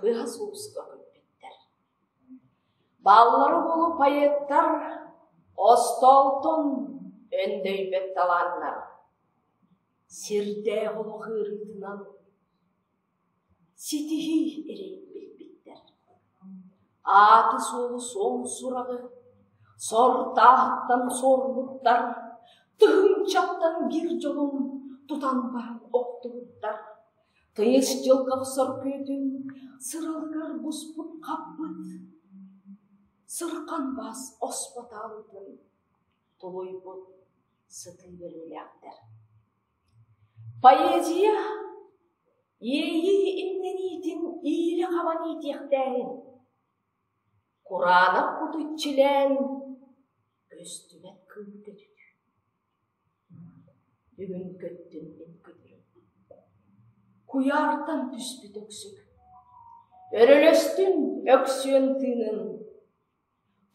Тыаһа-сууспа көппүттэр Бааллара буолу поэттар Остоотун өндөйбөт талааннар Сирдээх олох ыарыытынан Ситиһии эрэй билбиттэр Ааты-суолу суол сураҕы Сордаахтан суормуттар Тыһынчаттан биир дьолун Тутан баран охтубуттар Тыйыс дьылга охсор күтүн Сыралыгар буспут хаппыт Сырхан бас оспотаабытын Тулуйбут сытыы бөлүүлээхтэр Поэзия иэйии иннэниитин иилэ-хаба иитиэхтээһин Кураанах куту иччилээн Көстүбэт кыыл көтүтүү Бүгүн көттүм мин күтүрүм, куйаартан түспүт өксүк. Өрөлөстүм Өксүөн тыынын,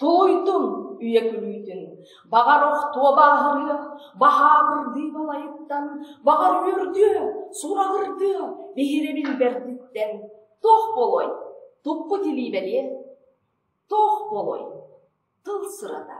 тулуйдум үйэ күлүүтүн. Баҕар охтуо бааһырыа, баһаабырдыы балайыттан, баҕар үөрдүө, сураҕырдыа биһирэбин бэрдиттэн. Туох буолуой, туппут илии бэлиэ, туох буолуой, тыл сырата.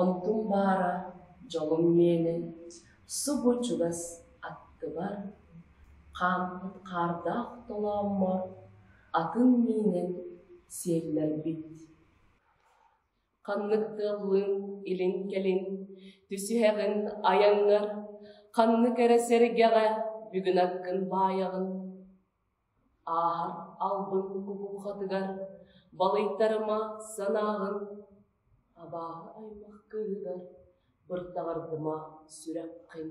Онтум баара, дьолум миэнин, субу чугас аттыбар, хааммыт хаардаах толооммор атын миинин сиэллэрбит. Ханнык тыаллыын илин-кэлин түсүһэҕин айаҥҥар, ханнык эрэ сэргэҕэ бүгүн аккын баайаҕын ааһар албын уһуохатыгар балыйтарыма санааһын абааһы аймах кыыһыгар быртаҕардыма сүрэххин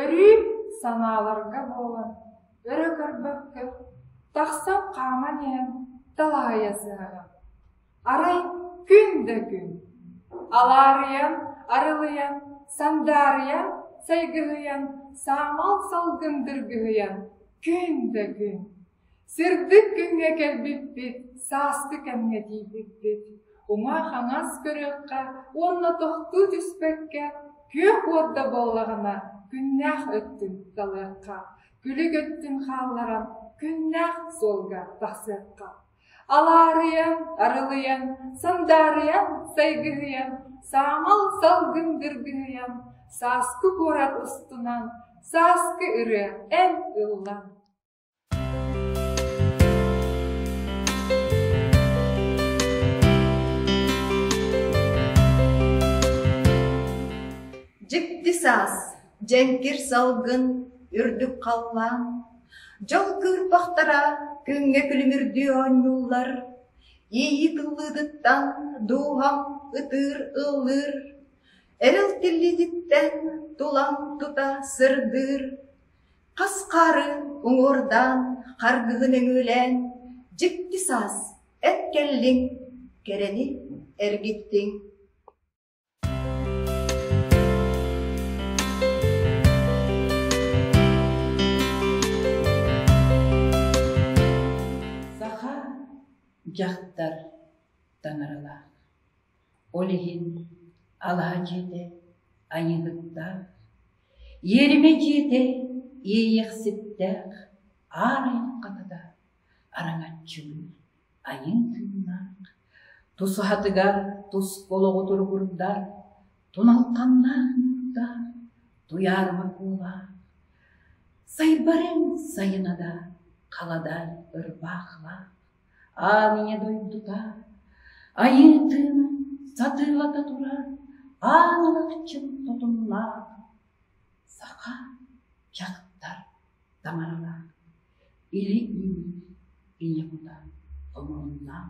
Өрүүн санааларга буолан, өрө көрбөккө, тахсан хааман иһэн талаһыйа сыһыаҕым. Арай күн да күн, алаарыйан, арылыйан, сандаарыйан, сайгыһыйан, саамал салгын дыргыһыйан күн да күн Сырдык күҥҥэ кэлбиппит, сааскы кэмҥэ тиийбиппит. Уҥа-хаҥас көрүөххэ уонна тохтуу түспэккэ, күөх уорда буоллаҕына, күннээх өттүн талыахха, күлүк өттүн хаалларан, күннээх суолга тахсыахха. Алаарыйан, арылыйан, сандаарыйан, сайгыһыйан, саамал салгын дыргыһыйан, сааскы куорат устунан, сааскы ырыа эн ыллан. Дьикти саас, дьэҥкир салгын, үрдүк халлаан, дьол кыырпахтара күҥҥэ күлүмүрдүү оонньууллар, ииһи тыллыытыттан дууһам ытыыр ыллыыр, эрэл тиллиититтэн тулам тута сырдыыр, Хас хаарын уҥуордаан, харгыһын өҥүүлээн, дьикти саас, эт кэллиҥ, кэрэни эргиттиҥ Саха дьахтар таҥаралаах Ол иһин алаһа дьиэтэ айыыһыттаах, иэримэ дьиэтэ иэйиэхситтээх, аан айан хатата араҥаччылыыр, айын тыыннаах, тус аһатыгар тус олоҕу туругурдар, туналҕаннаах муҥутаах, туйаарыма куулаах, сайбар эн сайына да, хала да ырбаахлаах. Аанньа дойдута, Айыытыын сатыылата турар аан ылахчын тотумнаах саха дьахтар таҥаралаах илии-үүнүү ийэ кута омуруннаах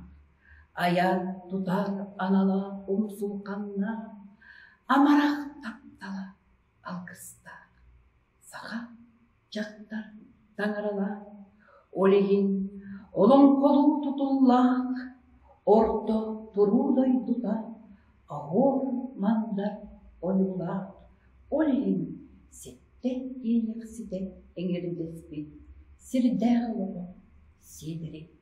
айан тутар аналаах умсулҕаннаах амарах таптала алгыстаах саха дьахтар таҥаралаах, ол иһин олоҥхолуу тутуллаах, орто туруу дойдута аһор мандар ойуулаах, ол иһин ситтэ тиийэхситэ эҥэрдэспит сирдээх олоҕо Сиэдэри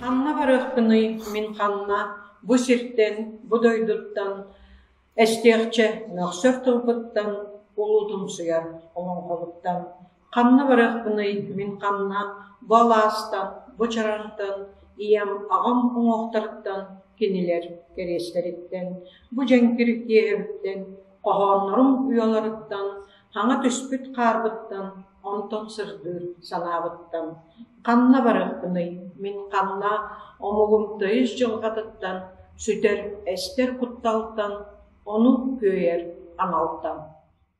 Ханна барыахпыный мин ханна бу сиртэн, бу дойдуттан эстиэхчэ мөхсөр тылбыттан, улуутумсуйар олоҥхобуттан Ханна барыахпыный мин ханна бу алаастан, бу чараантан, ийэм, аҕам уҥуохтарыттан, кинилэр кэриэстэриттэн, бу дьэҥкир киэһэбиттэн, хоһооннорум уйаларыттан, хаҥа түспүт хаарбыттан онтон сырдыыр санаабыттан ханна барыахпыный мин ханна омугум тойус дьылҕатыттан сүтэр эстэр кутталтан, ону күөйэр аҥалтан